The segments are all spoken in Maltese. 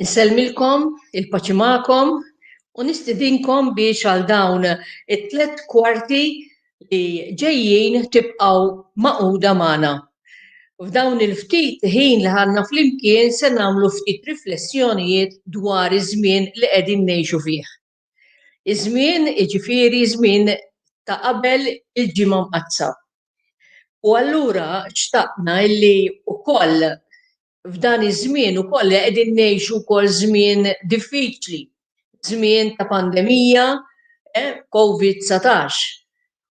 Insellmilkom, il-paċi magħkom, u nistidinkom biex għal dawn it-tlet kwarti li ġejjin tibqgħu maquda magħna. F'dawn il-ftit ħin li ħanna flimkien se nagħmlu ftit riflessjonijiet dwar iż-żmien li qegħdin ngħixu fih. Iż-żmien iġifieri żmien ta' qabel il-ġimgħa mqaddsa. U allura xtaqna illi wkoll f'dan iż-żmien ukoll li qegħdin ngħixu wkoll żmien diffiċli, żmien ta' pandemija, eh, COVID-19.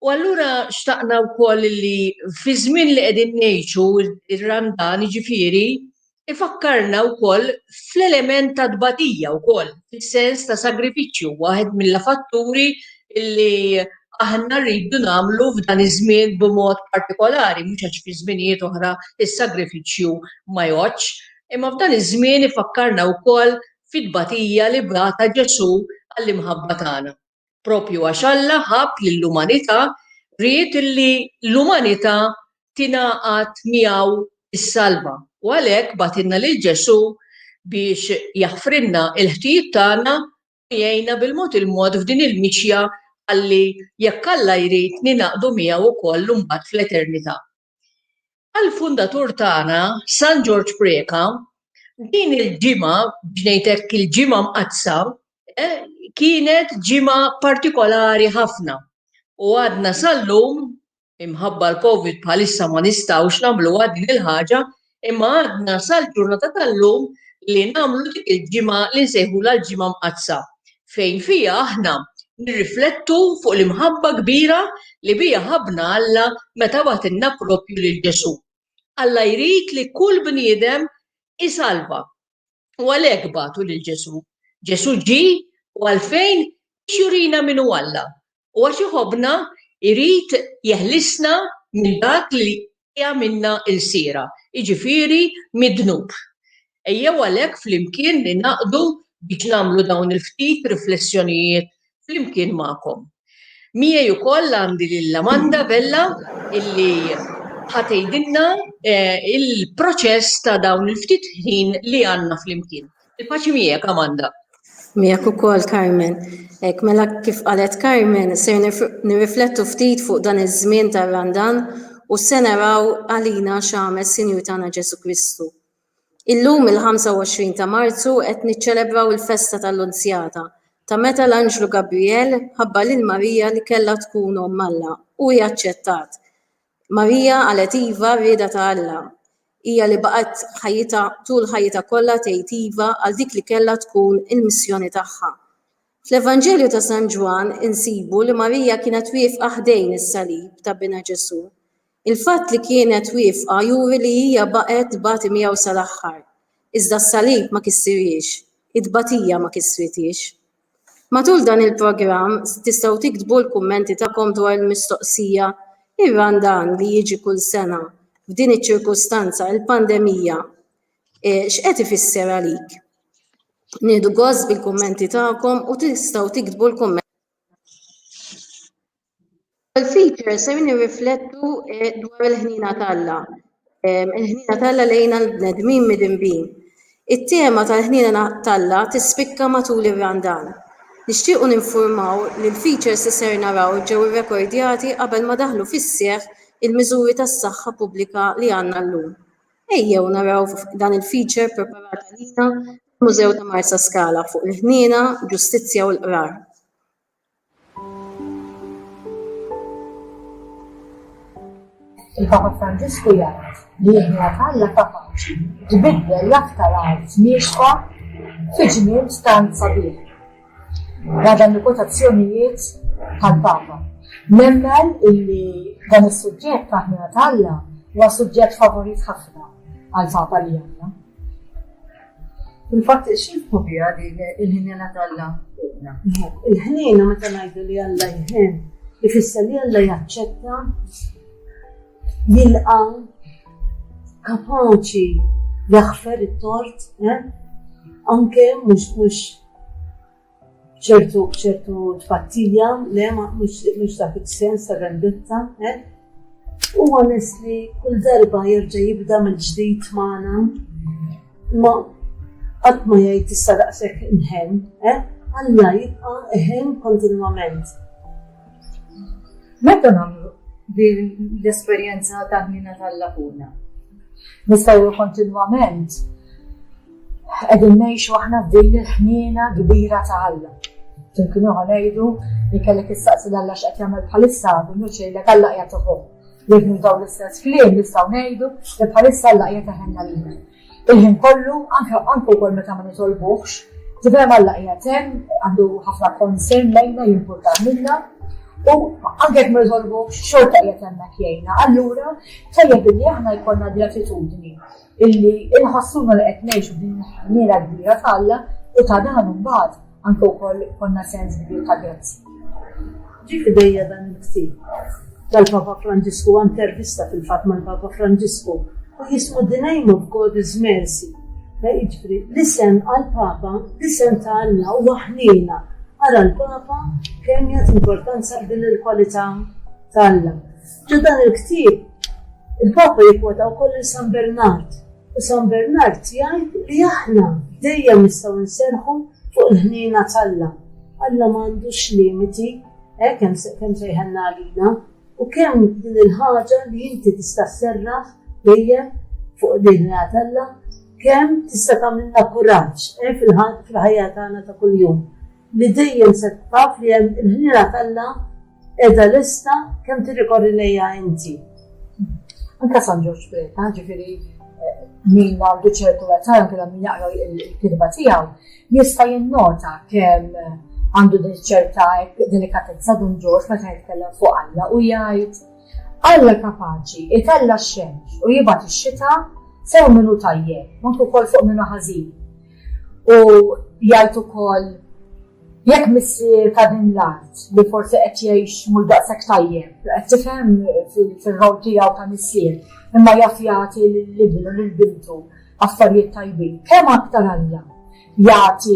U allura xtaqna wkoll li fi żmien li qegħdin ngħixu ir-Randan jiġifieri ifakkarna wkoll fl-element ta' tbatija wkoll, fis-sens ta' sagrifiċċju, waħed mill-fatturi li aħna rridu nagħmlu f'dan iż-żmien b'mod partikolari, mhux għax fi żminijiet oħra is-sagrifiċċju ma jgħoddx, imma f'dan iż-żmien ifakkarna wkoll fit-tbatija li bata Ġesù għall-imħabba tagħna. Proprju għax Alla ħabb lill-umanità, ried li l-umanità tingħaqad miegħu s-salva, u għalhekk bagħtilna lil Ġesù biex jaħfrilna l-ħtijiet tagħna jgħinna bil-mod il-mod f'din il-mixja ħalli, jekk Alla jrid, ningħaqdu miegħu wkoll imbagħad fl-eternità. Għall-fundatur tagħna, San Ġorġ Preca, din il-ġimgħa, biex ngħid hekk il-Ġimgħa Mqaddsa, kienet ġimgħa partikolari ħafna u għadna sal-lum Imħabba l-Covid bħalissa ma nistgħux nagħmluha din il-ħaġa imma għadna sal-ġurnata tal-lum li nagħmlu dik il-ġimgħa li nsejħulha l-Ġimgħa Mqaddsa fejn fiha aħna nirriflettu fuq l-imħabba kbira li biha ħabbna Alla meta bagħtilna proprju lil Ġesù. Alla jrid li kull bniedem isalva. U għalhekk bagħtu lil Ġesù. Ġesù ġie u għalfejn biex jurina min hu Alla. u għax iħobbna jrid jeħlisna minn dak li jagħmilna ilsiera, jiġifieri mid-dnub. Ejjew għalhekk flimkien ningħaqdu biex nagħmlu dawn il-ftit riflessjonijiet flimkien magħkom. Miegħi wkoll għandi lil Amanda Vella illi ħa tgħidilna eh, il-proċess ta' dawn il-ftit ħin li għandna flimkien. Il-paċi miegħek Amanda. Miegħek ukoll Carmen. Ek mela kif qalet Carmen, ser nirriflettu ftit fuq dan iż-żmien tar-Randan u se naraw għalina x'għamel Sinjur tagħna Ġesu Kristu. Illum il-25 ta' Marzu qed niċċelebraw il-festa tal-Unzjata ta' meta l-Anġlu Gabriel ħabba lil Marija li kellha tkun omm Alla u hi aċċettat. Marija qalet iva r-rieda ta' Alla. Hija li baqgħet ħajjitha tul ħajjitha kollha tgħid iva għal dik li kellha tkun il-missjoni tagħha. Fl-Evanġelju ta' San Ġwann insibu li Marija kienet wiefqa ħdejn is-salib ta' Binha Ġesù. Il-fatt li kienet wiefqa juri li hija baqgħet tbati miegħu sal-aħħar. Iżda s-salib ma kissirhiex. It-tbatija ma kissrithiex. Matul dan il-programm tistgħu tiktbu l-kummenti tagħkom dwar il-mistoqsija Ir-Run Dan li jiġi kull sena f'din iċ-ċirkustanza, il-pandemija, x'qed ifisser għalik? Nieħdu gost bil-kummenti tagħkom u tistgħu tiktbu l-kummenti L-ewwel features se jirriflettu eh, dwar il-ħnina t'Alla, eh, il-ħnina t'Alla lejn l-bnedmin midinbin. It-tema tal-ħnina t'Alla tispikka matul ir-Randan. Nixtiequ ninfurmaw li l-features li ser naraw ġew irrekordjati qabel ma daħlu fis-seħħ il-miżuri tas-saħħa pubblika li għandna llum. Ejjew naraw dan il-feature preparat għalina fil-Mużew ta' Marsaskala fuq il-ħniena, ġustizzja u l-qrar. Il-Papa Franġisku jgħid li jibna Alla kapaċi jbiddel l-aktar art miexfa fi ġnien stan sabiħ. Għadan il-kotazzjonijiet tal-Papa. Nemmen illi dan is-suġġett taħmina tal-Alla huwa suġġett favorit ħafna għal-Papa li għandna. Fil-fatt, xifku bija din il-ħinjena tal-la fuqna? Il-ħnina meta ngħidu li Alla jħin, ifisser li Alla jaċċetta, jilqa, kapaċi jaħfer it-tort, eh? anke mhux mhux ċertu ċertu tpattija, le ma mhux dak is-sens ta' vendetta, eh? U għanes li kull darba jerġa' jibda mill-ġdid magħna, ma qatt ma jgħid issa daqshekk inħem, eh? Alla jibqa' eħem kontinwament. Meta nagħmlu l-esperjenza ta' ħnina tal-lakuna? Nistgħu kontinwament Qegħdin ngħixu aħna f'din il-ħniena kbira ta' Alla. Ġen kienu ngħidu li kellek issaqsi l Alla x'qed jagħmel bħalissa minnu xejlek Alla qiegħed uħu. Jekk dawn l-istess kliem nistgħu ngħidu li bħalissa Alla qiegħed iħenna lilna. Il-ħin kollu anke anke wkoll meta ma nitolbuhx, tifhem Alla qiegħed hemm għandu ħafna konsern lejna jimpurta minna u anke jekk ma nitolbuhx xorta qiegħed hemmhekk jgħinna. Allura tajjeb li aħna jkollna gratitudni illi inħossuna li qed ngħixu din il-ħniena kbira ta' Alla u ta' dan imbagħad anke wkoll konna sens kbir ta' grazzi. Ġi fidejja dan il-ktib tal-Papa Franġisku intervista fil-fatt mal-Papa Franġisku u jismu The Name of God is Mercy. Eh, jiġri, l-isem għal-Papa, l-isem ta' Alla u waħnina għara l-Papa kemm jgħat importanza din il-kwalità ta' Alla. Ġo dan il-ktieb, il-Papa jikkwota wkoll lil San Bernard, u San Bernard jgħid li aħna dejjem nistgħu nserħu fuq il-ħniena t'Alla. Alla m'għandux limiti, eh, kemm sejħenna għalina, u kemm din il-ħaġa li inti tista' serraħ dejjem fuq din Alla kemm tista' tagħmilna kuraġġ eh, fil-ħajja tagħna ta' kuljum. Li dejjem se taf li hemm il-ħnina t'Alla Edha lista kemm tirrikorri lejja inti. Anka San Ġorġ Preta, ġifiri eh, min għandu ċertu għazzar, kena min jaqra il-kidba tijaw, jista jinnota kem eh, għandu din ċerta delikatezza dun ġorġ meta jitkellem fuq Alla u jgħid Alla kapaċi itella x-xemx u jibat ix-xita sew minnu tajjeb, manku kol fuq minnu ħażin. U jgħid ukoll Jekk missier ta' din l-art li forsi qed jgħix mhux daqshekk tajjeb, qed tifhem fir-role tiegħu ta' missier, imma jaf jagħti lil ibnu, lil bintu affarijiet tajbin, kemm aktar Alla jagħti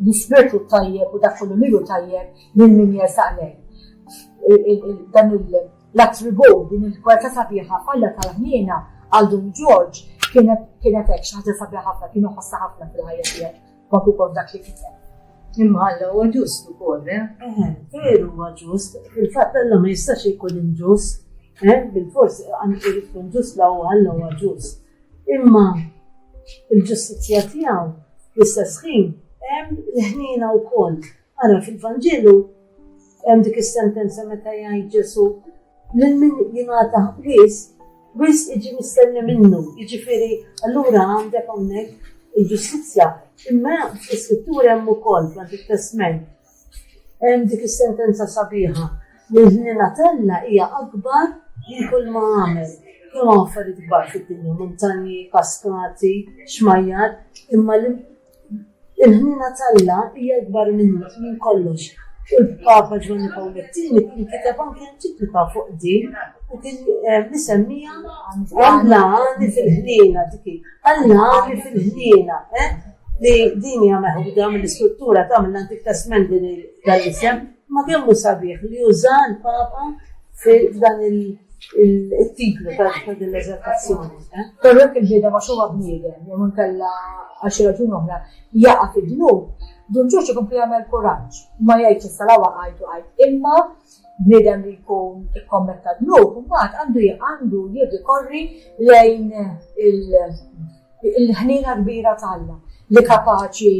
l-ispirtu t-tajjeb u dak kollu li hu tajjeb lil min jersaq lejh. Dan l-attribut, din il-kwalità sabiħa f'Alla tal-ħniena għal Dun Ġorġ kienet hekk xi ħaġa sabiħa ħafna, kien iħossha ħafna fil-ħajja tiegħu. Dak ukoll dak li kiteb. Imma Alla huwa ġust ukoll, eh? Eh, veru huwa ġust. Il-fatt Alla ma jistax ikun inġust. Eh, bil-fors għandu jkun ġust la huwa Alla huwa ġust. Imma il-ġustizzja tiegħu l-istess ħin hemm l-ħnina wkoll. Ara fil-Vanġelu hemm dik is-sentenza meta jgħid Ġesu' lil min jingħata wis, wis iġi mistenni minnu. Jiġifieri allura għandek hawnhekk il-ġustizzja. Imma fl-iskrittura hemm ukoll fl it-testment. Hemm dik is-sentenza sabiħa li l-ħnina tella hija akbar li kull ma għamel. Kemm affarijiet kbar fid-dinja, montanji, kaskati, xmajjar, imma Il-ħniena t'Alla hija akbar minn minn kollox, u l-Papa Ġwanni Pawl it-Tieni kien kiteb anki enċiklika fuq din u kien eh, misemmija Alla għani fil-ħniena dik Alla għani fil-ħniena, eh? li din hija meħuda mill-istruttura ta' mill-Antik Testament din dal-isem Ma kemm hu sabiħ li uża l-Papa f'dan il-titlu ta' din l-eżaltazzjoni. Eh? Però jekk il-ġieda ma xogħol bniedem, jew inkella għal xi raġun oħra, jaqa' fid-dnub, dun ġoġ ikun jagħmel kuraġġ, ma jgħidx issa la waqajt u għajt. Imma bniedem li jkun ikkommetta dnub, mbagħad għandu għandu jirrikorri lejn Il-ħniena kbira t'Alla li kapaċi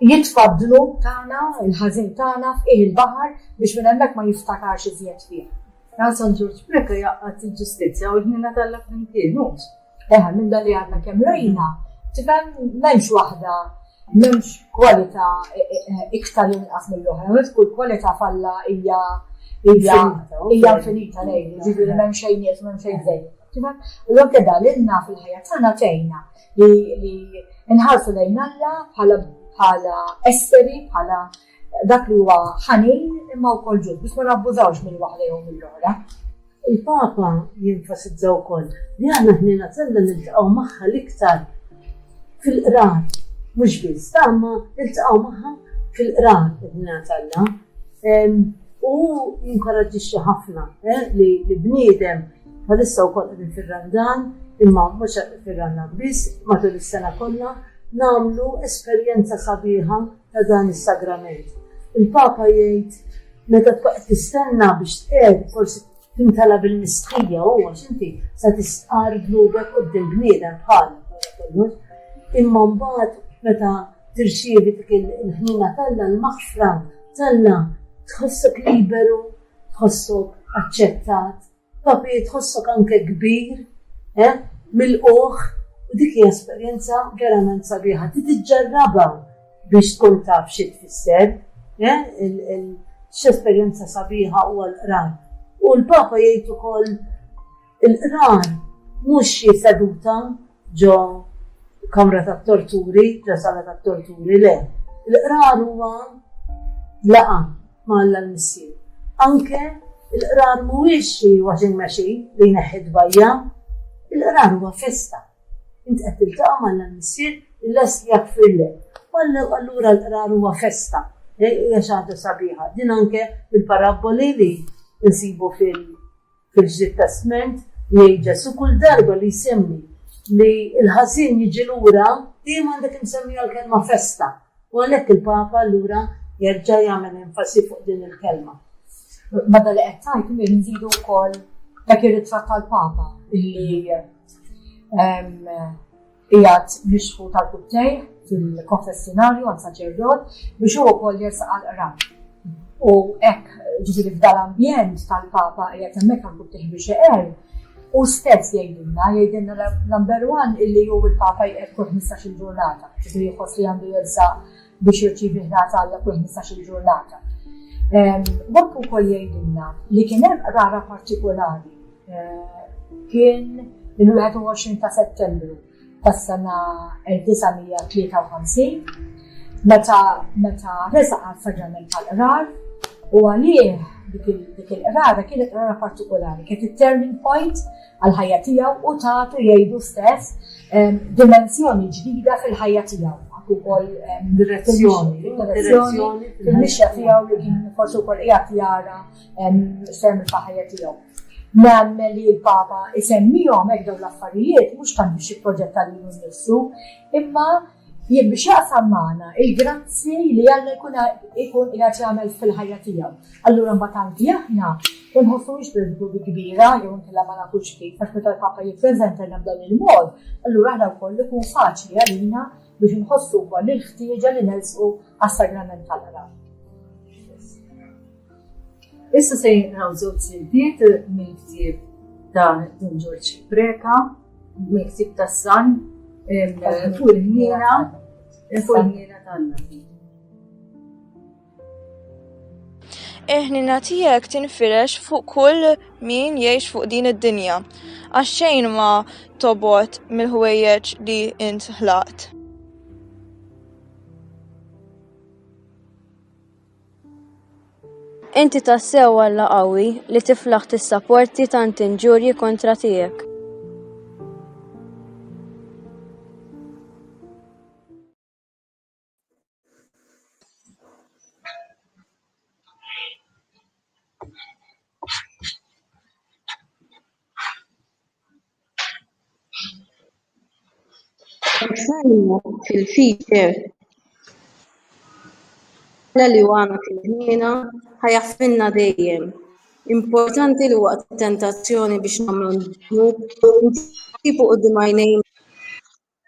jitfa' d-dnub tagħna, il-ħażin tagħna f'qiegħ il-baħar biex minn hemmhekk ma jiftakarx iżjed fih. Għal San Ġorġ Preca jaqgħad il-ġustizzja u l-ħniena t'Alla flimkien, hux. Eħa, minn dan li għadna kemm rajna, tifhem m'hemmx waħda m'hemmx kwalità e, e, e, iktar inqas mill-oħra, għed kull kwalità falla hija hija infinita lejn, ġifieri m'hemm xejn jiet, m'hemm xejn zejt. Tifhem? U anke dan lilna fil-ħajja tagħna tgħinna li nħarsu lejn Alla bħala esseri, bħala dak li huwa ħanin imma wkoll ġud biex ma nabbużawx minn waħda jew mill-oħra. Il-Papa jinfasizza wkoll li aħna ħnina tella niltaqgħu magħha l-iktar fil-qrat mhux biss tagħma niltaqgħu magħha fil-qrat ħnina tella. U jinkoraġġixxi ħafna eh, li bniedem Bħalissa wkoll qegħdin fir-Randan, imma mhux fir-Randan biss, matul is-sena kollha, nagħmlu esperjenza sabiħa ta' dan is-sagrament. Il-Papa jgħid meta qed tistenna biex tqed forsi tintala bil-miskija u għax inti sa tistqar gnubek qudiem bniedem bħal kollox. Imma mbagħad meta tirċievi dik il-ħnina talla l-maħfra talla tħossok liberu tħossok aċċettat, papi tħossok anke kbir, eh, milqugħ, u dik hija esperjenza verament sabiħa. Ti tiġġarrabha biex tkun taf xi tfisser, eh, x'esperjenza sabiħa huwa l-qraj. U l-Papa jgħid ukoll Il-qrar mhux xi seduta ġo kamra tat-torturi, ġo sala tat-torturi, le. Il-qrar huwa laqa ma' Alla l-Missier. Anke il-qrar mhuwiex xi washing machine li jneħħi bajja il-qrar huwa festa. Int qed tiltaqa' ma' Alla l-Missier il-les jaffirlek. Wallu allura l-qrar huwa festa. Hija xi ħaġa sabiħa. Din anke il-parabboli li nsibu fil- Fil-Ġdid Testment, jgħid Ġesù kull darba li jsemmi li l-ħażin jiġi lura, dejjem għandha timsemmija l-kelma festa, u għalhekk il-Papa allura jerġa' jagħmel enfasi fuq din il-kelma. Bada li qed tgħid li nżidu wkoll dak ir-ritratt tal-Papa li Qiegħed mixħut għal quddejh fil-konfessinarju għand saċerdot biex hu wkoll jersaq għall-qrab. U hekk ġifieri f'dal ambjent tal-Papa qiegħed hemmhekk għal quddejh biex iqer, u stess jgħidilna, jgħidilna l-number one illi hu l-Papa jqed kull 15-il ġurnata, ġifieri jħoss li għandu jersaq biex jirċievi ħlas għal kull 15-il ġurnata. Dak ukoll jgħidilna li kien hemm qrara partikolari eh, kien il-21 ta' Settembru tas-sena 1953 meta meta resa għal-saġament tal-qrar u għalih dik il-qrara kienet qrara partikolari, kienet il-turning point għall-ħajja tiegħu u tagħtu jgħidu stess dimensjoni ġdida fil-ħajja tiegħu. Għak ukoll direzzjoni, direzzjoni fil-mixja tiegħu li kien forsi wkoll qiegħed jara semmi ta' ħajja tiegħu. Namme li l-Papa isemmihom hekk dawn l-affarijiet mhux tant biex jipproġetta lilu nnifsu, imma Jien biex jaqsam magħna il-grazzi li Alla jkun ikun qiegħed jagħmel fil-ħajja tiegħu. Allura mbagħad anki aħna ma nħossuhiex bil-ħdub il-kbira jew inkella ma nafux kif għax meta l-Papa jippreżentalna b'dan il-mod, allura aħna wkoll ikun faċli għalina biex nħossu wkoll il-ħtieġa li nelżqu għas-sagrament tal-qrab. Issa se jinqraw żewġ siltiet mill-ktieb ta' Dun Ġorġ Preka, mill-ktieb ta' San, fuq il-ħniena, fuq il-ħniena tal-Nabi. eħnina tijek tinfirex fuq kull min jiex fuq din id-dinja, għax xejn ma tobot mill-ħwejjeġ li int ħlaqt. Inti tassew Alla qawwi li tiflaħ tissaporti tant inġurji kontra tiegħek. Salmo fil-fiċer la li għana fil-ħniena ħajaffinna dejjem. Importanti li waqt tentazzjoni biex namlu n-dnub, ntibu u d-dimajnejn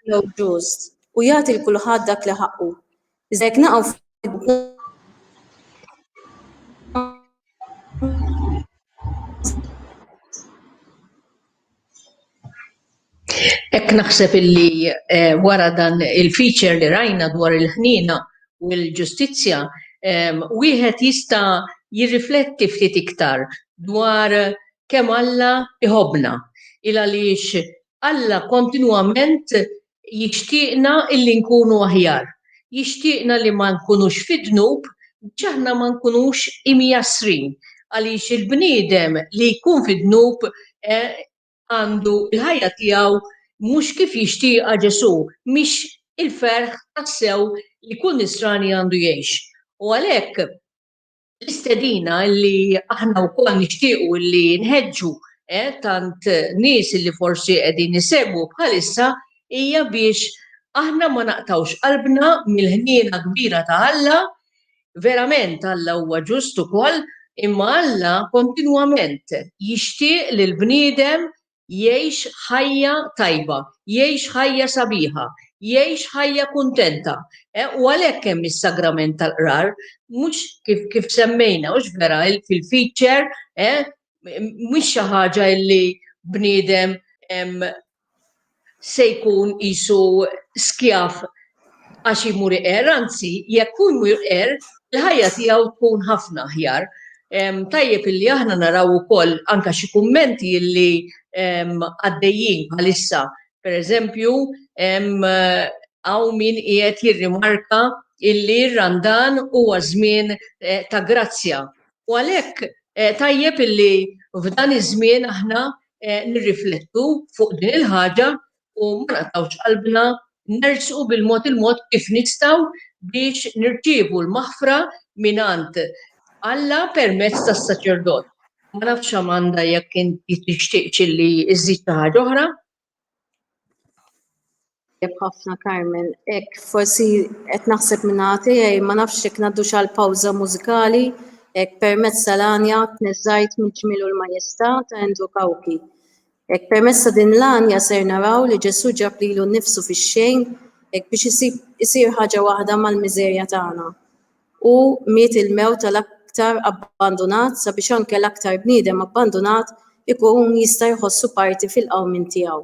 Alla hu ġust, u jagħti lil kulħadd dak li ħaqqu. Iżda jekk naqgħu Ek naħseb illi eh, wara dan il-feature li rajna dwar il-ħnina u l-ġustizzja, eh, wieħed jista' jirrifletti ftit iktar dwar kemm Alla iħobna il għaliex Alla kontinwament jixtieqna illi nkunu aħjar. Jixtieqna li ma nkunux fid-dnub biex aħna ma nkunux imjassrin, għaliex il-bniedem li jkun fid-dnub għandu l-ħajja tiegħu mhux kif jixtieqha Ġesù, mhix il-ferħ tassew li kull Nisrani għandu jgħix. U għalhekk. l-istedina li aħna wkoll nixtiequ li nħeġġu eh, tant nies li forsi qegħdin isegwu bħalissa hija biex aħna ma naqtawx qalbna mill-ħniena kbira ta' Alla, verament Alla huwa ġust ukoll, imma Alla kontinwament jixtieq li l-bniedem jgħix ħajja tajba, jgħix ħajja sabiħa, jgħix ħajja kuntenta. U għalhekk hemm is-sagrament tal-qrar, mhux kif kif semmejna, mhux vera fil-feature, mhux xi ħaġa li bniedem se jkun isu skjaf għax jmur iqer, anzi jekk hu jmur iqer, il-ħajja tiegħu tkun ħafna aħjar. Tajjeb illi aħna naraw ukoll anke xi kummenti illi għaddejjin bħalissa. Per eżempju, hawn min qiegħed jirrimarka illi r-Randan huwa żmien eh, ta' grazzja. U għalhekk eh, tajjeb illi f'dan iż-żmien aħna eh, nirriflettu fuq din il-ħaġa u ma naqtgħux qalbna nersqu bil-mod il-mod kif nistgħu biex nirċievu l-maħfra mingħand Alla permezz tas-saċerdot. Ma nafx Amanda jekk inti tixtieqx li iżżid xi ħaġa oħra. Jekk ħafna Carmen, hekk forsi qed naħseb minn tiegħi ma nafx jekk ngħaddu xal pawża mużikali hekk permezz tal-għanja tniżżajt mill-ġmiel u l-majestà ta' Endu Kawki. Hekk permezz ta' din l-għanja ser naraw li Ġesù ġab lilu nnifsu fix-xejn hekk biex isib isir ħaġa waħda mal-miżerja tagħna. Hu miet il-mewt tal-aktar abbandunat sabiex anke l-aktar bniedem abbandunat ikun jista' jħossu parti fil-qawmien tiegħu.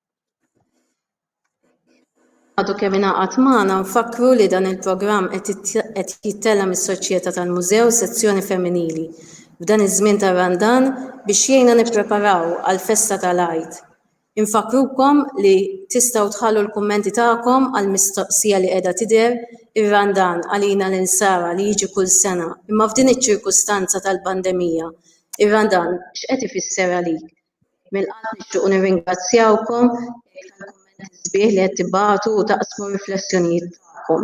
Għadu kemm ingħaqad magħna nfakkru li dan il-programm qed jittella mis-Soċjetà tal-Mużew Sezzjoni Femminili f'dan iż-żmien tar-Randan biex jgħinna nippreparaw għall-festa tal-Għid. Infakkrukom li tistgħu tħallu l-kummenti tagħkom għall-mistoqsija li qiegħda tidher ir-Randan għalina l-Insara li jiġi kull sena imma f'din iċ-ċirkustanza tal-pandemija ir-Randan x'qed ifisser għalik? Mill-qalb nixtiequ nirringrazzjawkom tal-kummenti sbieħ li qed tibgħatu u taqsmu riflessjonijiet tagħkom.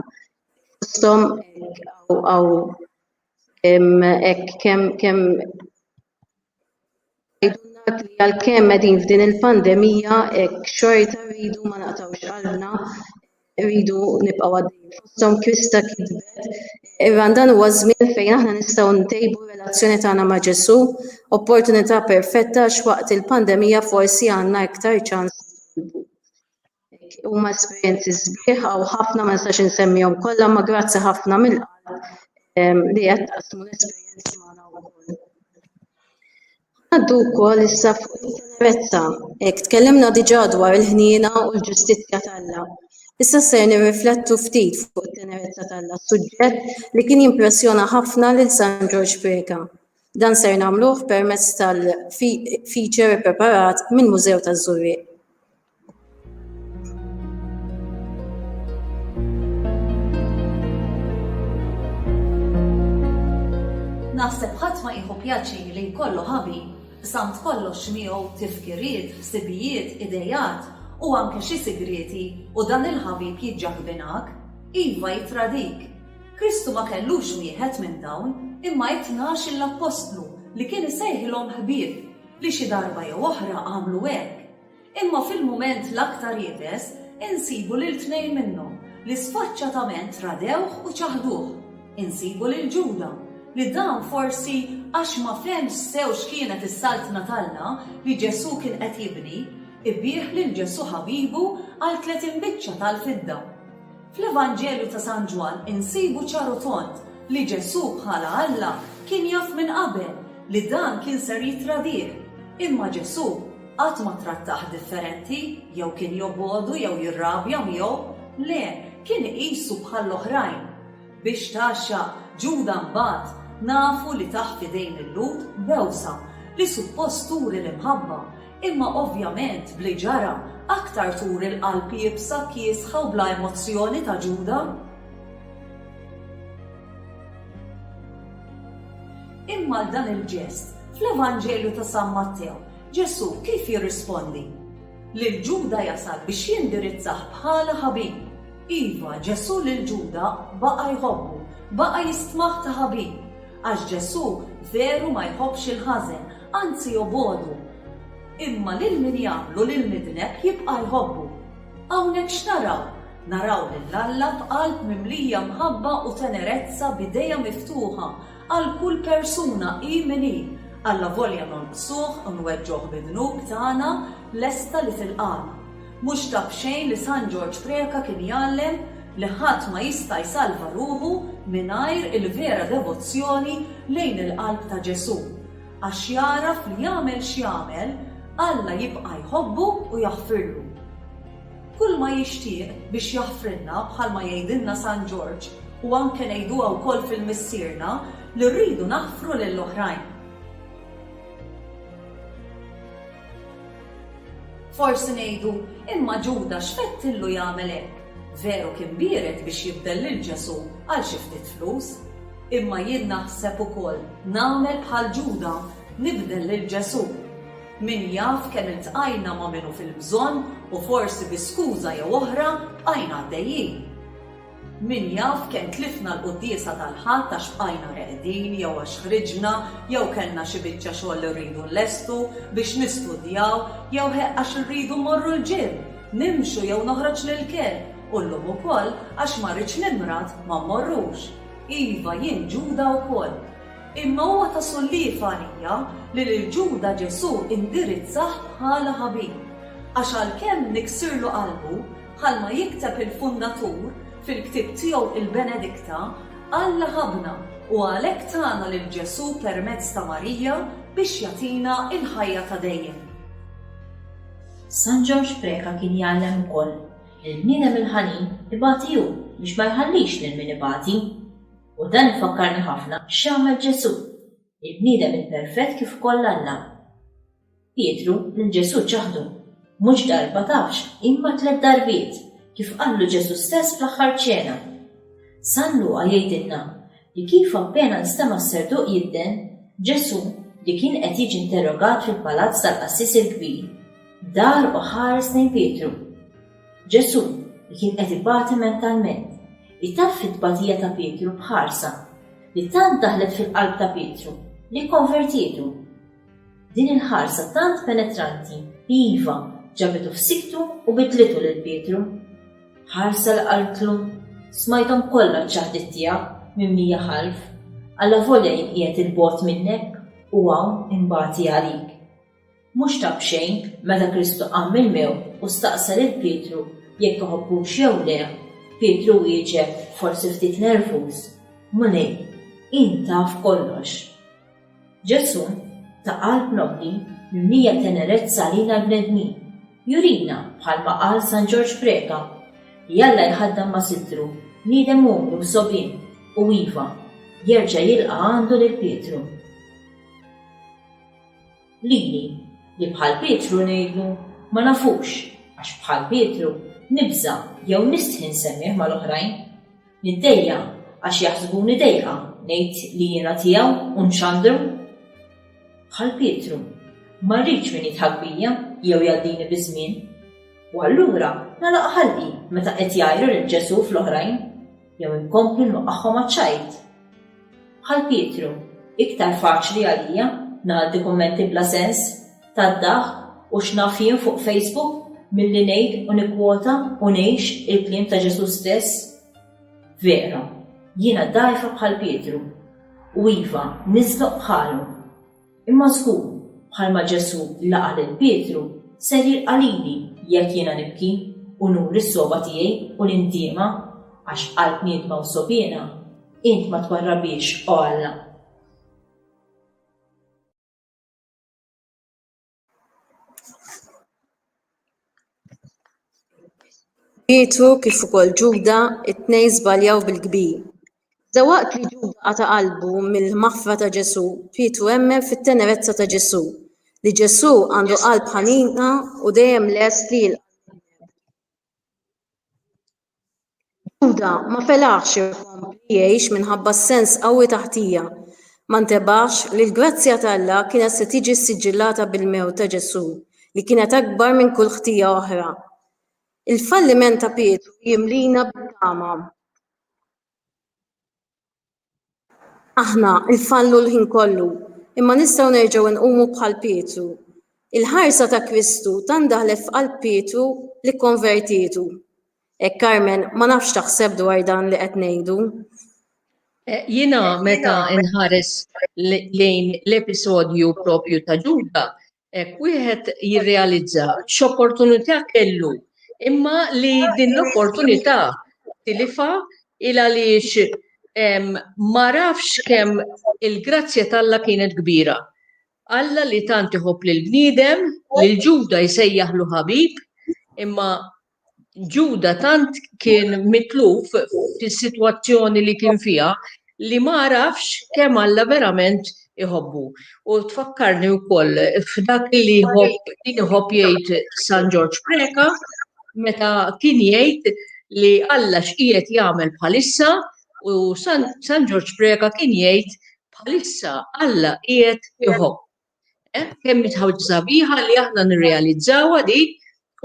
Fosthom hawn hekk kemm kemm tgħidulna li għalkemm qegħdin f'din il-pandemija hekk xorta rridu ma naqtgħux qalbna Irridu nibqgħu għaddejjin fosthom Krista kitbet Irran dan huwa żmien fejn aħna nistgħu ntejbu r-relazzjoni tagħna ma' Ġesù, opportunità perfetta għax waqt il-pandemija forsi għandna iktar ċans huma esperjenzi sbieħ u ħafna ma nistax insemmihom kollha ma grazzi ħafna mill-qalb ehm, li qed taqsmu l-esperjenzi magħna wkoll. Ngħaddu wkoll issa fuq it-tenerezza. Hekk tkellimna diġà dwar il-ħniena u l-ġustizzja t'Alla. Issa ser nirriflettu ftit fuq it-tenerezza t'Alla, suġġett li kien jimpressjona ħafna lil San Ġorġ Preca. Dan ser nagħmluh permezz tal-feature ippreparat mill-Mużew taż-Żurrieq. Naħseb ħadd ma jieħu pjaċir li jkollu ħabi samt kollox miegħu tifkiriet, ħsibijiet, idejat u anke xi sigrieti u dan il-ħabib jiġġaħbinak, iva jittradik. Kristu ma kellux wieħed minn dawn imma it-tnax il-appostlu li kien isejħilhom ħbieb li xi darba jew oħra għamlu hekk. Imma fil-mument l-aktar iebes insibu lil tnejn minnhom li sfaċċatament radewh u ċaħduh. Insibu lil Ġuda, li dan forsi għax ma fehmx sew x'kienet is-Saltna t'Alla li Ġesù kien qed jibni, ibiegħ lil Ġesù ħabibu għal tletin biċċa tal-fidda. Fl-Evanġelju ta' San Ġwann insibu ċar u tond li Ġesù bħala Alla kien jaf minn qabel li dan kien ser jittradih. Imma Ġesù qatt ma trattah differenti jew kien jobogħdu jew jirrabja miegħu. Le, kien iqisu bħall-oħrajn. Biex tgħaxxaq Ġuda mbagħad, nafu li tah f'idejn il-Lhud b'għewsa li suppost turi l-imħabba, Imma ovvjament b'li ġara, aktar turi l-qalb iebsa, kiesħa u bla emozzjoni ta' Ġuda. Imma għal dan il-ġest, fl-Evanġelju ta' San Mattew, Ġesù kif jirrispondi? Lil Ġuda jasal biex jindirizzah bħala ħabib. Iva, Ġesù lil Ġuda baqa' jħobbu, baqa' jistmah ta' ħabib. Għax Ġesù veru ma jħobbx il-ħażen, anzi jobgħodu. Imma lil min jagħmlu l-imidneb jibqa' jħobbu. Hawnhekk x'naraw? Naraw lil Alla b'qalb mimlija mħabba u tenerezza b'idejha miftuħa għal kull persuna hi min hi, allavolja nonqsuh u nweġġgħuh bid-dnub tagħna lesta li tilqagħna. Mhux ta' b'xejn li San Ġorġ Preca kien jgħallem li ħadd ma jista' jsalva ruħu mingħajr il-vera devozzjoni lejn il-qalb ta' Ġesù, għax jagħraf li jagħmel x'jagħmel, Alla jibqa' jħobbu u jaħfirlu. Kulma jixtieq biex jaħfrilna bħalma jgħidilna San Ġorġ u anke ngħiduha wkoll fil-Missierna li rridu naħfru lill-oħrajn. Forsi ngħidu, imma Ġuda x'mettillu jagħmel hekk? Veru kien biered biex jibdel lil Ġesù għal xi ftit flus. Imma jien naħseb ukoll nagħmel bħal Ġuda, nibdel lil Ġesù. Min jaf kemm iltqajna ma' min hu fil-bżonn u forsi bi skuża jew oħra bqajna għaddejjin. Min jaf kemm tlifna l-Quddiesa tal-Ħadd għax bqajna reqdin jew għax ħriġna jew kellna xi biċċa xogħol li rridu nlestu biex nistudjaw jew ħe għax irridu mmorru l-gym, nimxu jew noħroġ l-ilkien u llum ukoll għax ma rridx nimrad ma mmorrux. Iva, jien Ġuda wkoll. Imma huwa ta' solliev għalija li lil Ġuda Ġesù indirizzah bħala ħabib. Għax għalkemm niksirlu qalbu, Bħalma jikteb il-Fundatur fil-ktieb tiegħu il-Benedikta, Alla ħabbna u għalhekk tana lil Ġesù permezz ta' Marija biex jagħtina l-ħajja ta' dejjem. San Ġorġ Preca kien jgħallem ukoll li l-bniedem il-ħanin ibati hu biex ma jħallix lil min ibati. U dan ifakkarni ħafna x'għamel Ġesù. Il-bniedem imperfett kif ukoll Alla. Pietru, lil Ġesù ċaħdu, mhux darba tafx, imma tliet darbiet, kif qallu Ġesù stess fl-Aħħar Ċena. San Luqa jgħidilna li kif appena nstema' s-serduq jidden, Ġesù, li kien qed jiġi interrogat fil-palazz tal-qassis il-kbir, dar u ħares lejn Pietru. Ġesù, li kien qed ibati mentalment, itaffi t-tbatija ta' Pietru b'ħarsa li tant daħlet fil-qalb ta' Pietru li kkonvertietu. Din il-ħarsa tant penetranti, iva, ġabitu f'siktu u bidlitu lil Pietru. Ħarsa li qaltlu, Smajthom kollha ċ-ċaħdiet tiegħek minn mija ħalf, allavolja jien qiegħed 'il bogħod minnek u hawn inbati għalik. Mhux ta' b'xejn, meta Kristu qam mill-mewt u staqsa lil Pietru jekk iħobbux jew le, Pietru wieġeb, forsi ftit nervuż, Mulej, int taf kollox. Ġesù, ta' qalb nobbli, mimlija tenerezza għalina l-bnedmin, jurina, bħalma qal San Ġorġ Preca, li Alla jħaddan ma' sittru bniedem umli u sogħbien u, iva, jerġa' jilqa' għandu lil Pietru. Lili, li bħal Pietru ngħidlu, Ma nafux, għax bħal Pietru, nibża' jew nistħi nsemmih mal-oħrajn. Niddejja' għax jaħsbuni dejqa ngħid li jiena tiegħu u nxandru. Bħal Pietru, ma rridx min jidħak bija jew jgħaddini biż-żmien. U allura nagħlaq ħalqi meta qed jgħajru lil Ġesù fl-oħrajn. jew inkompli nwaqqagħhom għaċ-ċajt? Bħal Pietru, iktar faċli għalija ngħaddi kummenti bla sens, tad-daħk u x'naf jien fuq Facebook milli ngħid u nikkwota u ngħix il-kliem ta' Ġesù stess? Vera, jiena dgħajfa bħal Pietru u iva nisloq bħalu. Imma żgur, bħalma Ġesù laqa' lil Pietru, ser jilqa' lili jekk jiena nibki u nuri s-sogħba tiegħi u l-indiema, għax qalb niedma u sogħbiena int ma twarrabhiex, o Alla. Pietru kif ukoll Ġuda it-tnejn żbaljaw bil-kbir. Iżda waqt li Ġuda qata' qalbu mill-maħfra ta' Ġesù, Pietru emmen fit-tenerezza ta' Ġesù, li Ġesù għandu qalb ħanina u dejjem lest li jilqa' lil bniedem. Ġuda ma felaħx ikompli jgħix minħabba s-sens qawwi ta' ħtija. Ma ntebaħx li l-grazzja t'Alla kienet se tiġi ssiġillata bil-mewt ta' Ġesù, li kienet akbar minn kull ħtija oħra. Il-falliment ta' Pietru jimlina bit-tama. Aħna nfallu l-ħin kollu, imma nistgħu nerġgħu nqumu bħal Pietru. Il-ħarsa ta' Kristu tant daħlet f'qalb Pietru li kkonvertietu. Hekk Carmen ma nafx x'taħseb dwar dan li qed ngħidu. Jiena meta nħares lejn l-episodju propju ta' Ġuda, Hekk wieħed jirrealizza x'opportunità kellu imma li din l-opportunità tilifa il għaliex ma rafx kemm il-grazzja t'Alla kienet kbira. Alla li tant iħobb lill-bniedem, lil Ġuda jsejjaħlu ħabib, imma Ġuda tant kien mitluf fis-sitwazzjoni li kien fiha li ma għarafx kemm Alla verament iħobbu. U tfakkarni wkoll f'dak li kien iħobb jgħid San Ġorġ Preca meta kien jgħid li Alla x'qiegħed jagħmel bħalissa u San Ġorġ Preca kien jgħid bħalissa Alla qiegħed iħobb. Eh, kemm ħawġ sabiħa li aħna nirrealizzawa di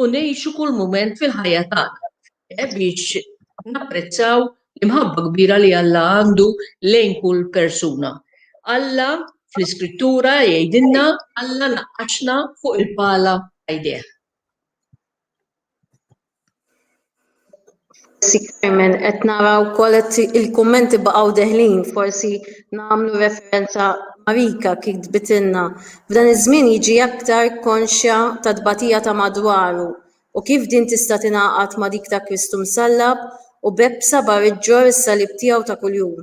u ngħixu kull mument fil-ħajja tagħna eh, biex napprezzaw l-imħabba kbira li Alla għandu lejn kull persuna. Alla fl-iskrittura jgħidilna Alla naqqaxna fuq il-pala għajdeh. Forsi Carmen qed nara wkoll il-kummenti baqgħu deħlin, forsi nagħmlu referenza Marika kif tbitilna. F'dan iż-żmien jiġi aktar konxja tat-tbatija ta' madwaru u kif din tista' tingħaqad ma' dik ta' Kristu msallab u b'hekk b'sabar iġġorr is-salib tiegħu ta' kuljum.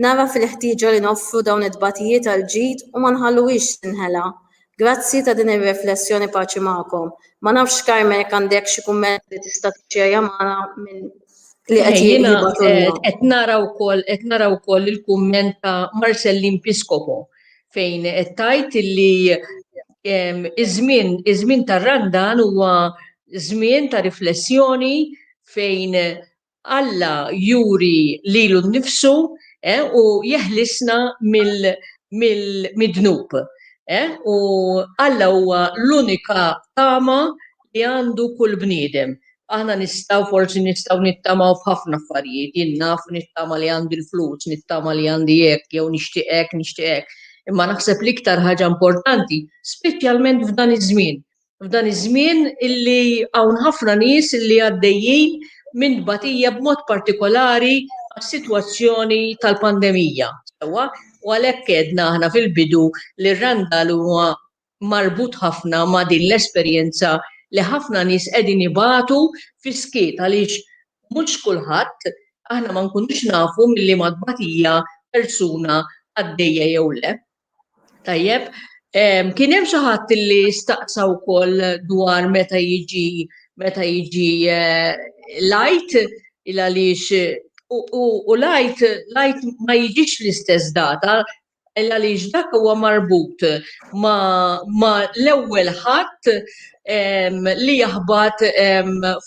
Nara fil-ħtieġa li noffru dawn it-tbatijiet għall-ġid u ma nħalluhiex tinħela. Grazzi ta' din ir-reflessjoni paċi magħkom. Ma nafx Carmen jekk għandekx xi kumment li tista' tixxerja magħna minn li qed jibgħatulna. Qed nara wkoll qed nara wkoll il-kumment ta' Marcellin Piscopo fejn qed tgħid li iż-żmien iż-żmien tar-Randan huwa żmien ta' riflessjoni fejn Alla juri lilu nnifsu u jeħlisna mid-dnub. U Alla huwa l-unika tama li għandu kull bniedem. Aħna nistgħu, forsi nistgħu nittamaw f'ħafna affarijiet. Jien naf u nittama li għandi l-flus, nittama li għandi hekk jew nixtieq hekk, nixtieq hekk. Imma naħseb l-iktar ħaġa importanti, speċjalment f'dan iż-żmien, F'dan iż-żmien illi hawn ħafna nies illi għaddejjin minn tbatija b'mod partikolari għas-sitwazzjoni tal-pandemija, sewwa, u għalhekk għedna aħna fil-bidu li r-Randall huwa marbut ħafna ma' din l-esperjenza li ħafna nies qegħdin ibatu fis-skiet għaliex mhux kulħadd, aħna ma nkunux nafu minn liema tbatija persuna għaddejja jew le. Tajjeb, kien hemm xi ħadd li staqsa wkoll dwar meta jiġi meta jiġi eh, lajt il għaliex u lajt lajt ma jiġix l-istess data il għaliex dak huwa marbut ma, ma l-ewwel ħadd li jaħbat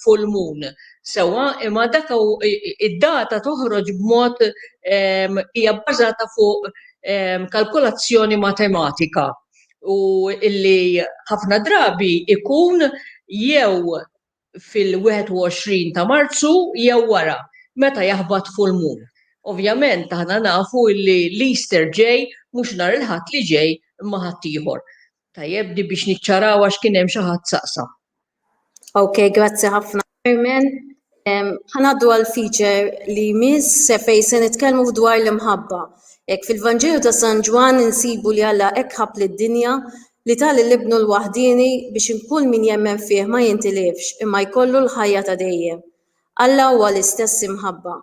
full moon. Sewa, imma dak id-data toħroġ b'mod hija bbażata fuq kalkolazzjoni matematika u illi ħafna drabi ikun jew fil-21 ta' Marzu jew wara meta jaħbat full moon. Ovvjament aħna nafu illi l-Easter ġej mhux nhar il-Ħadd li ġej imma Ħaddieħor. Tajjeb di biex niċċaraw għax kien hemm xi ħadd saqsa. Ok, grazzi ħafna Carmen. Ħanaddu għal feature li miss fej se nitkellmu dwar l-imħabba. Ek fil-Vanġelu ta' San Ġwan insibu li Alla hekk ħab lid-dinja li tal l-ibnu l-waħdini biex inkun min jemmen fih ma jintilifx imma jkollu l-ħajja ta' dejjem. Alla huwa l-istess imħabba.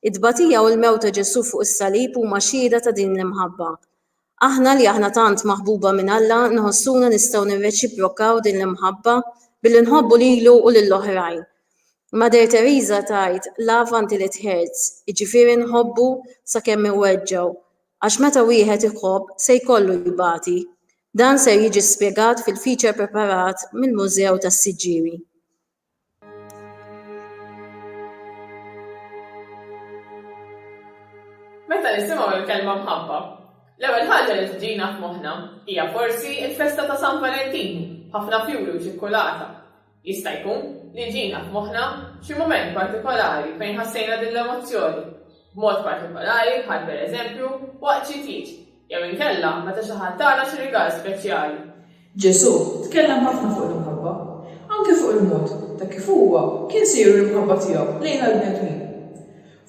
Id-tbatija u l-mewt ta' Ġesù fuq is-salib huma xhieda ta' din l-imħabba. Aħna li aħna tant maħbuba minn Alla nħossuna nistgħu nirreċiprokaw din l-imħabba billi nħobbu lilu u lill-oħrajn. Mother Teresa tgħid love until it hurts, jiġifieri nħobbu sakemm iweġġgħu, għax meta wieħed iħobb se jkollu jbati. Dan ser jiġi spjegat fil-feature preparat mill-Mużew tas-Siġġiewi. Meta nisimgħu l-kelma mħabba, l-ewwel ħaġa li tiġina f'moħħna hija forsi l-festa ta' San Valentinu, b'ħafna fjuri u ċikkulata. Jista' jkun li jġina f'moħħna xi mument partikolari fejn ħassejna din l-emozzjoni, b'mod partikolari bħal pereżempju waqt xi tieġ jew inkella meta xi ħadd tana xi rigal speċjali. Ġesù tkellem ħafna fuq l-imħabba, anke fuq il-mod ta' kif huwa kien se juri l-imħabba tiegħu lejn għall-bnedmin.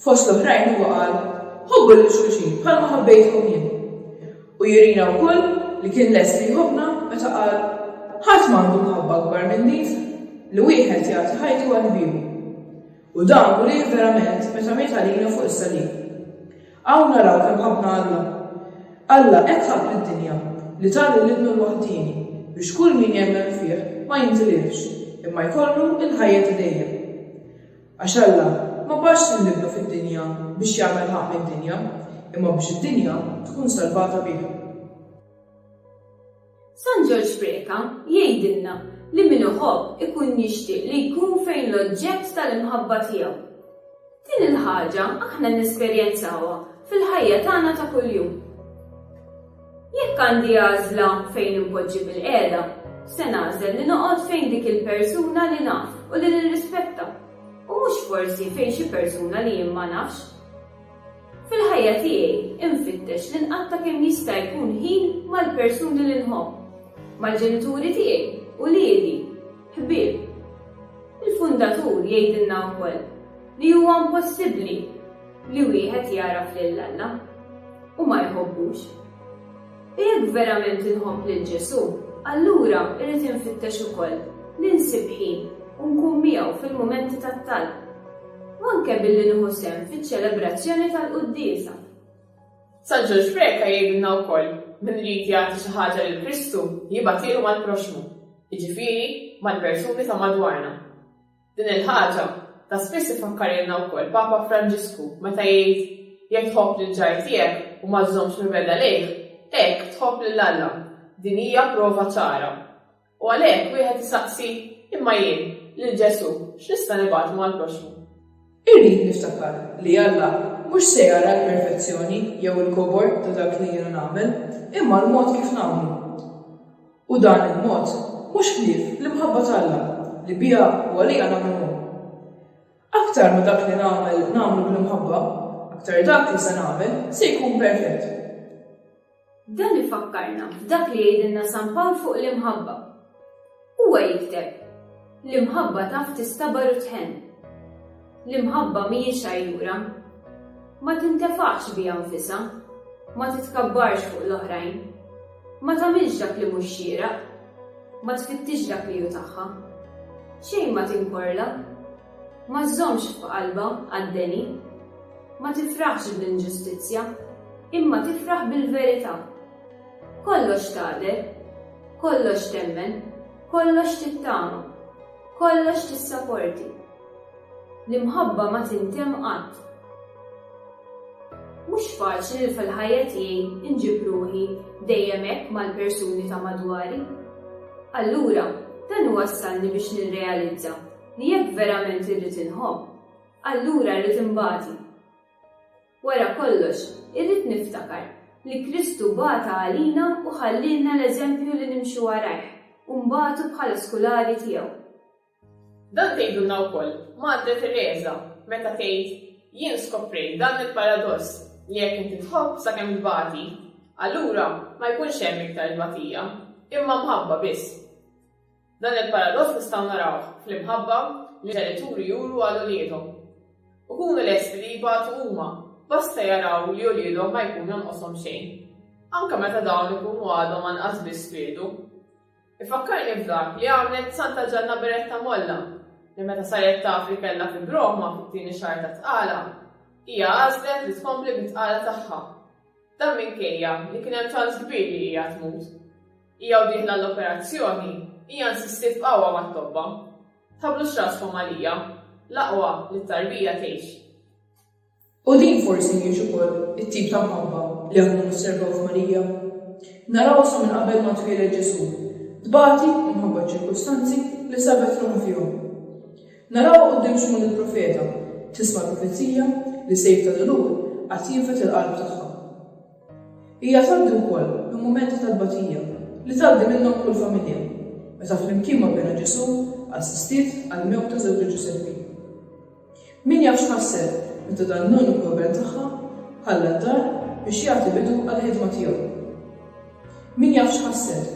Fost l-oħrajn huwa qal, Ħobbu lil xulxin bħalma ħabbejtkom jien. U jurina wkoll li kien lest li jħobbna meta qal, Ħadd m'għandu mħabba akbar minn din, li wieħed jagħti ħajtu għal ħbiebu. U dan urieh verament meta miet għalina fuq is-salib. Hawn naraw kemm ħabbna Alla. Alla hekk ħabb lid-dinja li ta lil Ibnu l-waħdieni biex kull min jemmen fih ma jintilifx, imma jkollu l-ħajja ta' dejjem. Għax Alla ma bagħatx lil Ibnu fid-dinja biex jagħmel ħaqq mid-dinja, imma biex id-dinja tkun salvata bih. San Ġorġ Preca jgħidilna li min iħobb ikun jixtieq li jkun fejn l-oġġett tal-imħabba tiegħu. Din il-ħaġa aħna nesperjenzawha fil-ħajja tagħna ta' kuljum. Jekk għandi għażla fejn impoġġi bil-qiegħda, se nagħżel li noqgħod fejn dik il-persuna li naf u li nirrispetta, u mhux forsi fejn xi persuna li jien ma nafx. Fil-ħajja tiegħi infittex li nqatta' kemm jista' jkun ħin mal-persuni li nħobb, mal-ġenituri tiegħi, uliedi, ħbieb. Il-Fundatur jgħidilna wkoll li huwa impossibbli li wieħed jagħraf lil Alla u ma jħobbux. Jekk verament inħobb lil Ġesù, allura irrid infittex ukoll li nsib ħin u nkun miegħu fil-mumenti tat-talb, u anke billi nieħu sehem fiċ-ċelebrazzjoni tal-quddiesa. San Ġorġ Preca jgħidilna wkoll, Min irid jagħti xi ħaġa lil Kristu, jibgħatielu mal-proxxmu, jiġifieri, mal-persuni ta' madwarna. Din il-ħaġa ta' spiss ifakkarilna wkoll Papa Franġisku meta jgħid, Jekk tħobb lill-ġar tiegħek u ma żżommx mibegħda lejh, hekk tħobb lil Alla. Din hija prova ċara. U għalhekk wieħed isaqsi, Imma jien, lil Ġesù, x'nista' nibgħatlu mal-proxxmu? Irrid niftakar li Alla mhux se jara l-perfezzjoni jew il-kobor ta' dak li jiena nagħmel, imma l-mod kif nagħmlu. U dan il-mod mhux ħlief l-imħabba t'Alla li biha u għaliha nagħmlu hu. Aktar ma dak li nagħmel nagħmlu bl-imħabba, aktar dak li se nagħmel se jkun perfett. Dan ifakkarna f'dak li jgħidilna San Pawl fuq l-imħabba. Huwa jikteb, L-imħabba taf tistabar u tħenn. L-imħabba mhijiex għajjura. Ma tintefax biha nfisha, ma titkabbarx fuq l-oħrajn, ma tagħmilx dak li mhux xieraq, ma tfittix dak li hu tagħha. Xejn ma tinkorla, Ma żżommx f'qalbha għad-deni. Ma tifraħx bl-inġustizzja, imma tifraħ bil-verità. Kollox tagħder, kollox temmen, kollox tittama, kollox tissaporti. L-imħabba ma tintemm qatt. Mhux faċli li fil-ħajja tiegħi inġib ruħi dejjem hekk mal-persuni ta' madwari. Allura, dan iwassalni biex nirrealizza li jekk verament irrid inħobb, allura rrid inbati. Wara kollox, irrid niftakar li Kristu bata għalina u ħallielna l-eżempju li nimxu warajh u nbatu bħala skulari tiegħu. Dan tgħidulna wkoll Madre Tereża meta tgħid, Jien skoprejt dan il-paradoss li jekk inti tħobb sakemm tbati, allura ma jkunx hemm iktar tbatija, imma mħabba biss. Dan il-paradoss nistgħu narawh fl-imħabba li ġenituri juru għal uliedhom. Ikunu lesti li jibatu huma, basta jaraw li uliedhom ma jkun jonqoshom xejn, anke meta dawn ikunu għadhom anqas biss twildu. Ifakkarni f'dak li għamlet Santa Ġanna Beretta Molla, li meta saret taf li kellha fibroma fit-tieni xahar ta' tqala, hija għażlet li tkompli bit-tqala tagħha. Dan minkejja li kien hemm ċans kbir li hija tmut. Hija u dieħla għall-operazzjoni, hija nsistiet b'qawwa mat-tobba, Tħabblux raskom għalija, l-aqwa li t-tarbija tgħix. U din forsi mhijiex ukoll it-tip ta' mħabba li aħna nosservaw f'Marija? Narawha sa minn qabel ma twieled Ġesù, tbati minħabba ċ-ċirkustanzi li sabet ruħha fihom. Narawha quddiem Xmun il-profeta, tisma' l-profezija li sejf ta' dulur għad jinfed il-qalb tagħha. Hija tgħaddi wkoll minn mumenti ta' tbatija li tgħaddi minnhom kull familja, meta flimkien ma' Binha Ġesù assistiet għall-mewta żewġha Ġużeppi. Min jaf x'ħasset meta dan l-uniku iben tagħha ħalla d-dar biex jagħti bidu għall-ħidma tiegħu. Min jaf x'ħasset,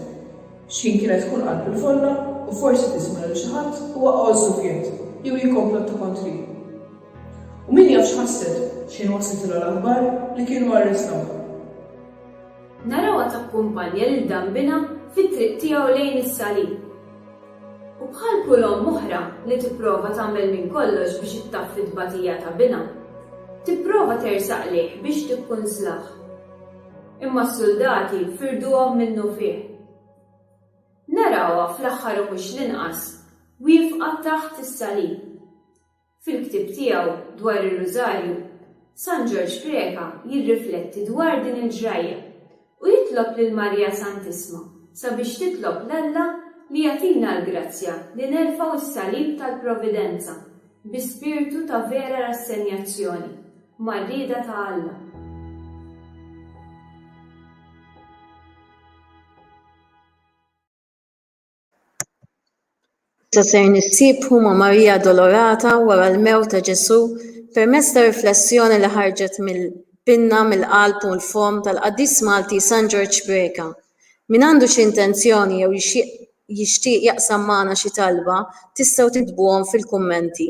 x'ħin kienet tkun qalb il-folla u forsi tisma' lil xi ħadd huwa għożżu f'jedd jew jikkomplotta kontri. U min jaf x'ħasset x'ħin waslithilha l-aħbar li kienu arrestawha. Narawha takkumpanja lil dambinha fit-triq tiegħu lejn is-Salib. U bħal kull omm oħra li tipprova tagħmel minn kollox biex ittaffi t-tbatija ta' binha, tipprova tersaq lejh biex tikkunslah. Imma s-suldati firduhom minnufih. Narawha fl-aħħar u mhux l-inqas, wiefqa taħt is-Salib. Fil-ktieb tiegħu dwar ir-Rużarju, San Ġorġ Preca jirrifletti dwar din il-ġrajja u jitlob lil Marija Santissma sabiex titlob 'l Alla li jagħtina l-grazzja li nerfgħu s-salib tal-Providenza bi spirtu ta' vera rassenjazzjoni mar-rieda ta' Alla. Issa ser nissibħu ma' Marija Addolorata wara l-mewt ta' Ġesù permezz ta' riflessjoni li ħarġet mill-pinna, mill-qalb u l-fomm tal-qaddis Malti San Ġorġ Preca. Min għandu xi intenzjoni jew jixtieq jaqsam magħna xi talba tistgħu tiktbuhom fil-kummenti.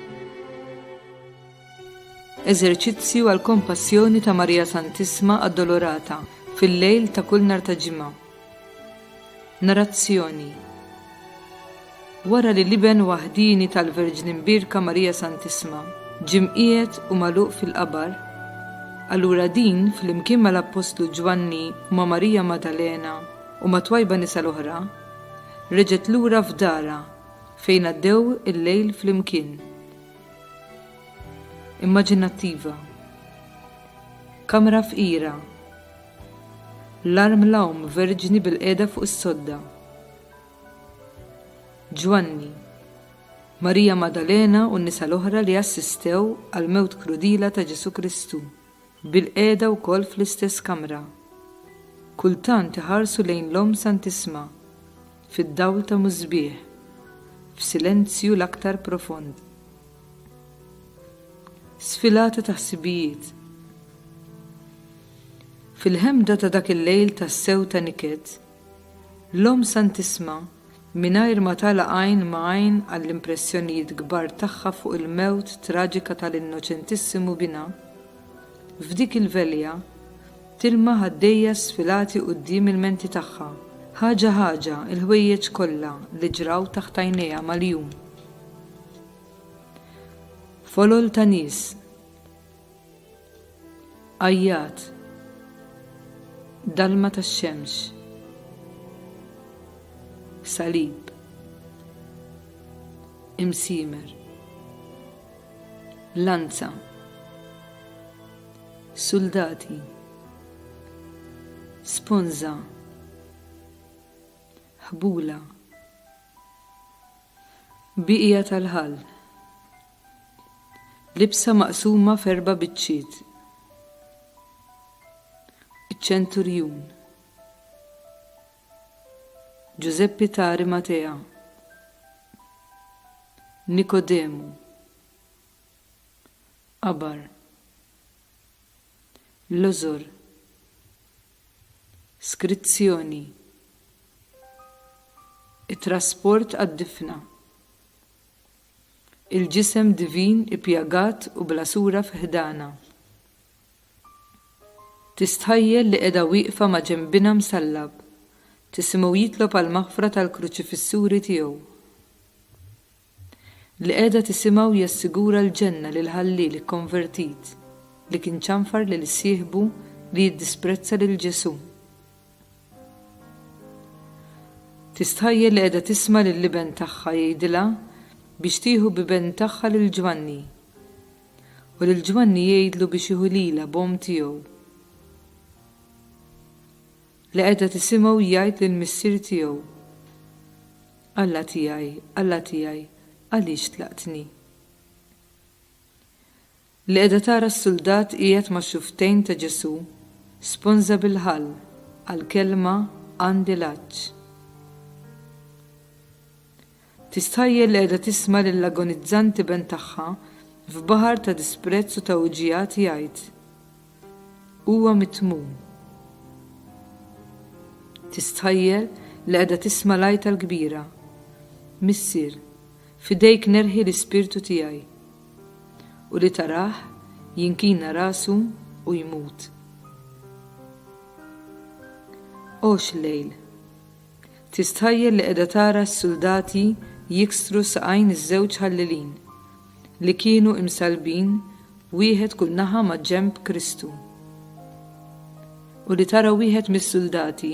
Eżerċizzju għall-Kompassjoni ta' Marija Santissma Addolorata fil-lejl ta' kull nhar ta' Ġimgħa. Narrazzjoni Wara li l-Iben waħdieni tal-Verġni Mbierka Marija Santissma ġie mqiegħed u magħluq fil-qabar, allura din, flimkien mal-appostlu Ġwanni u ma' Marija Maddalena u mat-twajba nisa l-oħra, reġgħet lura f'darha Fejn għaddew il-lejl flimkien. Immaġinattiva. Kamra fqira. L-arm l-għawm verġni bilqiegħda fuq is-sodda. Ġwanni. Marija Maddalena u n-nisa l-oħra li assistew għall-mewt krudila ta' Ġesù Kristu. Bilqiegħda wkoll fl-istess kamra, kultant iħarsu lejn l-Omm Santissma fid-dawl ta' musbieħ, f'silenzju l-aktar profond. Sfilata ta' ħsibijiet. Fil-ħemda ta' dak il-lejl tassew ta' niket, L-Omm Santissma, mingħajr ma tagħlaq għajn ma' għajn għall-impressjonijiet kbar tagħha fuq il-mewt traġika tal-Innoċentissimu Binha, f'dik il-velja, tilmaħ għaddejja sfilati quddiem il-menti tagħha, ħaġa ħaġa, il-ħwejjeġ kollha li ġraw taħt għajnejha mal-jum. Folol ta' nies. Għajjat. Dalma tax-xemx. Salib. Imsiemer. Lanza. Suldati. Sponza. Ħbula. Biqija tal-ħall. Libsa maqsuma f'erba' biċċiet. Iċ-Ċenturjun. Ġużeppi ta' Arimatea. Nikodemu. Qabar. L-għożor. Skrizzjoni. It-trasport għad-difna. il-ġisem divin ippjagat u bla sura fi ħdanha. Tistħajjel li qiegħda wieqfa ma' ġenb Binha msallab, tisimgħu jitlob għall-maħfra tal-kruċifissuri tiegħu. Li qiegħda tisimgħu jassigura l-ġenna lill-ħalliel ikkonvertit li kien ċanfar lil sieħbu li jiddisprezza lil Ġesù. Tistħajjel li qiegħda tisma' lill-iben tagħha jgħidilha biex tieħu b'iben tagħha lil Ġwanni. U lil Ġwanni jgħidlu biex jieħu lilha b'omm tiegħu. Li qiegħda tisimgħu jgħid lill-Missier tiegħu, Alla tiegħi, Alla tiegħi, għaliex tlaqtni? Li qiegħda tara s-suldat qiegħed max-xufftejn ta' Ġesù, sponża bil-ħall għall-kelma għandi l-għatx. Tistħajjel li qiegħda tisma' lill-agonizzanti Benn tagħha f'baħar ta' disprezz u ta' uġigħat jgħid, Huwa mitmum. Tistħajjel li qiegħda tisma' l-għajta l-kbira, Missier, f'idejk nerħi l-ispirtu tiegħi, u li tarah jinkina rasu u jmut. Għox lejl. Tistħajjel li qiegħda tara s-suldati jiksru saqajn iż-żewġ ħallilin, li kienu imsallbin wieħed kull naħa maġġenb Kristu, u li tara wieħed mis-suldati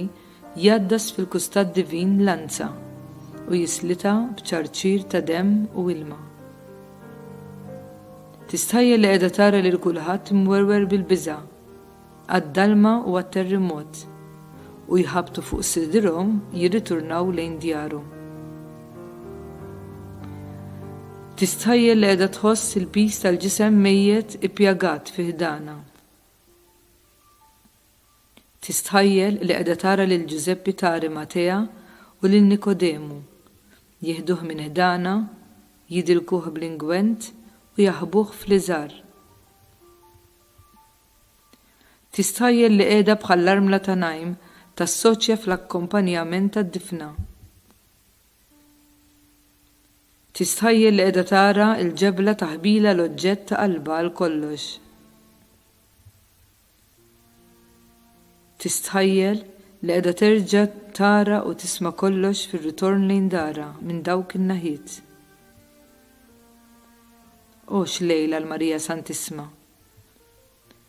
jgħaddas fil-kustat divin lanza u jislitha b'ċarċir ta' demm u ilma. Tistħajjel li qiegħda tara lil kulħadd imwerwer bil-biża', għad-dalma u għat-terrimot, u jħabbtu fuq sidrhom jirriturnaw lejn djarhom. Tistħajjel li qiegħda tħoss il-piż tal-ġisem mejjet ippjagat fi ħdanha. Tistħajjel li qiegħda tara lil Ġużeppi tari Matea u lil Nikodemu, jieħduh minn ħdanha, jidilkuh bl-ingwent u jaħbuh fl-iżgħar. Tistħajjel li qiegħda bħall-armla ta' Naim tas-soċja fl-akkompanjament tad-difna. Tistħajjel li qiegħda tara l-ġebla ta' ħbielha l-oġġett ta' qalbha għal kollox. Tistħajjel li qiegħda terġa' tara u tisma' kollox fir-ritorn lejn darha minn dawk in-naħiet. O x'lejl għal Marija Santissma!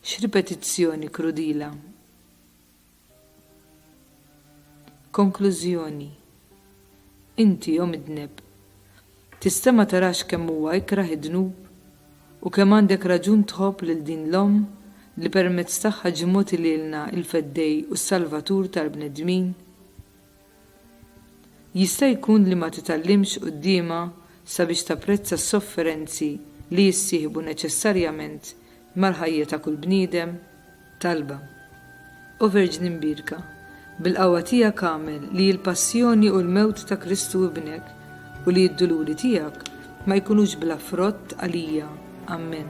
X'ripetizzjoni krudila! Konklużjoni, Inti, o midneb, tista' ma tarax kemm huwa ikrah id-dnub u kemm għandek raġun tħobb lil din l-Omm li permezz tagħha ġie mogħti lilna l-Feddej u s-Salvatur tal-bnedmin? Jista' jkun li ma titgħallimx quddiemha sabiex tapprezza s-sofferenzi li jissieħbu neċessarjament mal-ħajja ta' kull bniedem? Talba. O Verġni Mbierka, bil-qawwa tiegħek agħmel li l-passjoni u l-mewt ta' Kristu Ibnek u li d-duluri tiegħek ma jkunux bla frott għalija. Ammen.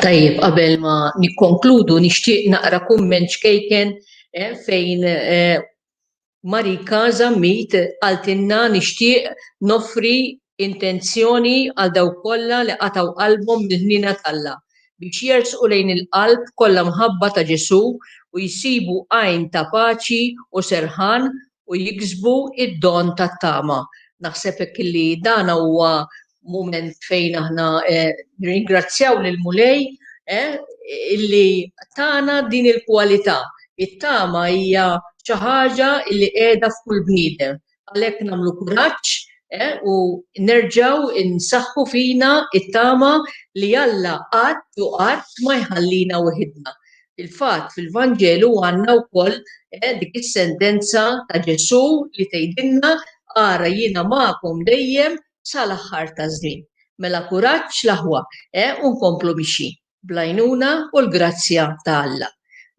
Tajjeb, qabel ma nikkonkludu nixtieq naqra kumment ċkejken eh, fejn eh, Marika Zammit għaltinna nixtieq nofri intenzjoni għal daw kollha li qataw qalbhom mill-ħnina t'Alla biex jersqu lejn il-qalb kollha mħabba ta' Ġesu u jsibu għajn ta' paċi u serħan u jiksbu id-don tat-tama. Naħseb hekk li dan huwa mument fejn aħna eh, ringrazzjaw lil mulej eh, illi tana din il-kwalità. It-tama hija xi ħaġa illi qiegħda f'kull bniedem. Għalhekk nagħmlu kuraġġ eh, u nerġaw insaħħu fina it-tama li Alla qatt u qatt ma jħallina weħidna. Il-fatt fil-Vanġelu għandna wkoll dik is-sentenza ta' Ġesu li tgħidilna ara jiena magħkom dejjem sa l-aħħar taż-żmien. Mela kuraġġ l-aħwa, eh, u nkomplu mixjin, bl-għajnuna u l-grazzja ta' Alla.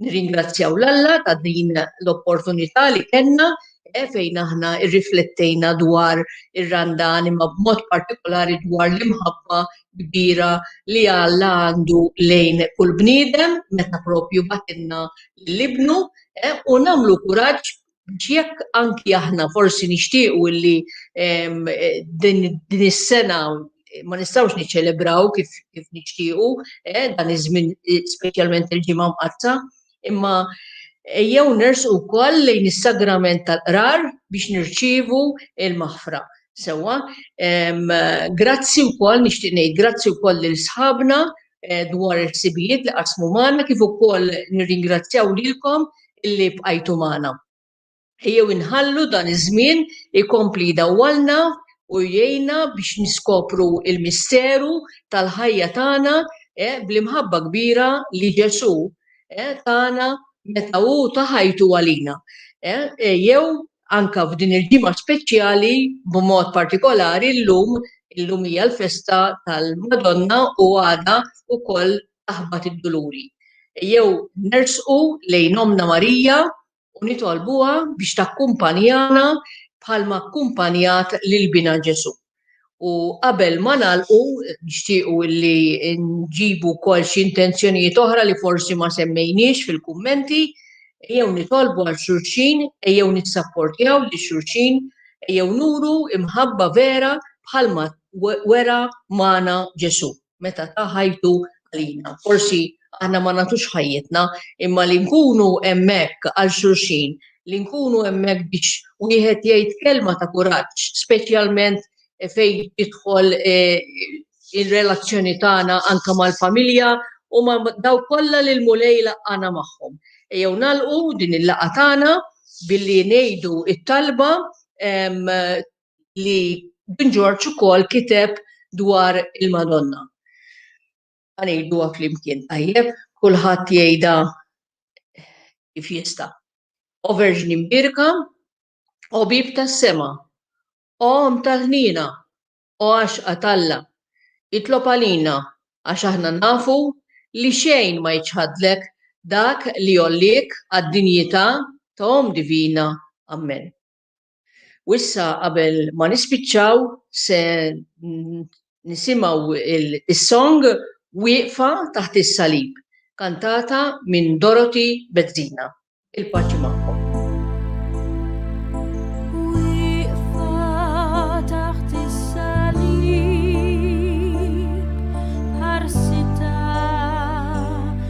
Nirringrazzjaw 'l Alla ta' din l-opportunità li kellna eh, fejn aħna rriflettejna dwar ir-randa anima b'mod partikolari dwar l-imħabba kbira li Alla għandu lejn kull bniedem meta propju batilna l-ibnu eh, u nagħmlu kuraġġ biex jekk anki aħna forsi nixtiequ illi din is-sena ma nistgħux niċċelebraw kif kif nixtiequ eh, dan iż-żmien eh, speċjalment il-ġimgħa mqatta, imma jew ners ukoll lejn is-sagrament tal-qrar biex nirċievu il-maħfra. Sewa, grazzi wkoll nixtieq ngħid grazzi wkoll lil sħabna eh, dwar il-ħsibijiet li qasmu magħna kif ukoll nirringrazzjaw lilkom illi bqajtu magħna. Ejjew inħallu dan iż-żmien ikompli dawwalna u jgħinna biex niskopru il-misteru tal-ħajja tagħna eh, bl-imħabba kbira li Ġesu eh, tagħna meta hu ta' ħajtu għalina. Jew anke f'din il-ġimgħa speċjali b'mod partikolari llum, illum hija l-festa tal-Madonna u għada wkoll taħbat id-duluri. Ejjew nersqu lejn Ommna Marija u nitolbuha biex takkumpanjana bħalma kkumpanjat lil Binha Ġesù. U qabel ma nagħlqu nixtiequ li nġibu wkoll xi intenzjonijiet oħra li forsi ma semmejniex fil-kummenti, jew nitolbu għal xulxin, jew nissapportjaw li xulxin, jew nuru imħabba vera bħalma wera magħna Ġesù. meta ta ħajtu għalina. Forsi aħna ma nagħtux ħajjitna, imma li nkunu hemmhekk għal xulxin, li nkunu hemmhekk biex wieħed jgħid kelma ta' kuraġġ, speċjalment fejn jidħol eh, il-relazzjoni tagħna anke mal-familja u ma daw kollha li l-mulej laqana magħhom. Jew nalqu din il-laqa tagħna billi ngħidu it-talba li Dun Ġorġ ukoll kiteb dwar il-Madonna. Għanejdu flimkien tajjeb, kulħadd jgħidha kif jista. O Verġni Mbirka, o Bib tas-Sema, o Omm tal-Ħniena, o Għaxqa t'Alla, itlob għalina għax aħna nafu li xejn ma jiċħadlek dak li jgħolliek għad-dinjità ta' Omm Divina. Ammen. U issa qabel ma nispiċċaw se nisimgħu il-song Wieqfa taħt is-salib, kantata minn Dorothy Bezzina. Il-paċi magħkom.